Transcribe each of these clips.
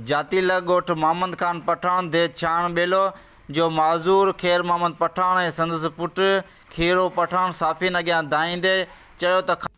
جاتيل ڳوٺ محمد خان پٺاڻ ديھ ڇاڻ ٻيلو جو معذور خير محمد پٺاڻ ۽ سندس پٽ کيرو پٺاڻ صحافين اڳيان دانهيندي چيو ته خان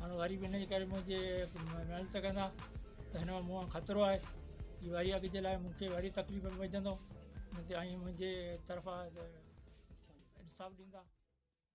هاڻ وري به ان جي ڪري منهنجي محنت ڪندا ته هن مان مون خطرو آهي هي وري اڳ جي لاء مون کي وري تڪليف ۾ وجهندو ۽ منهنجي طرفان انصاف ڏيندا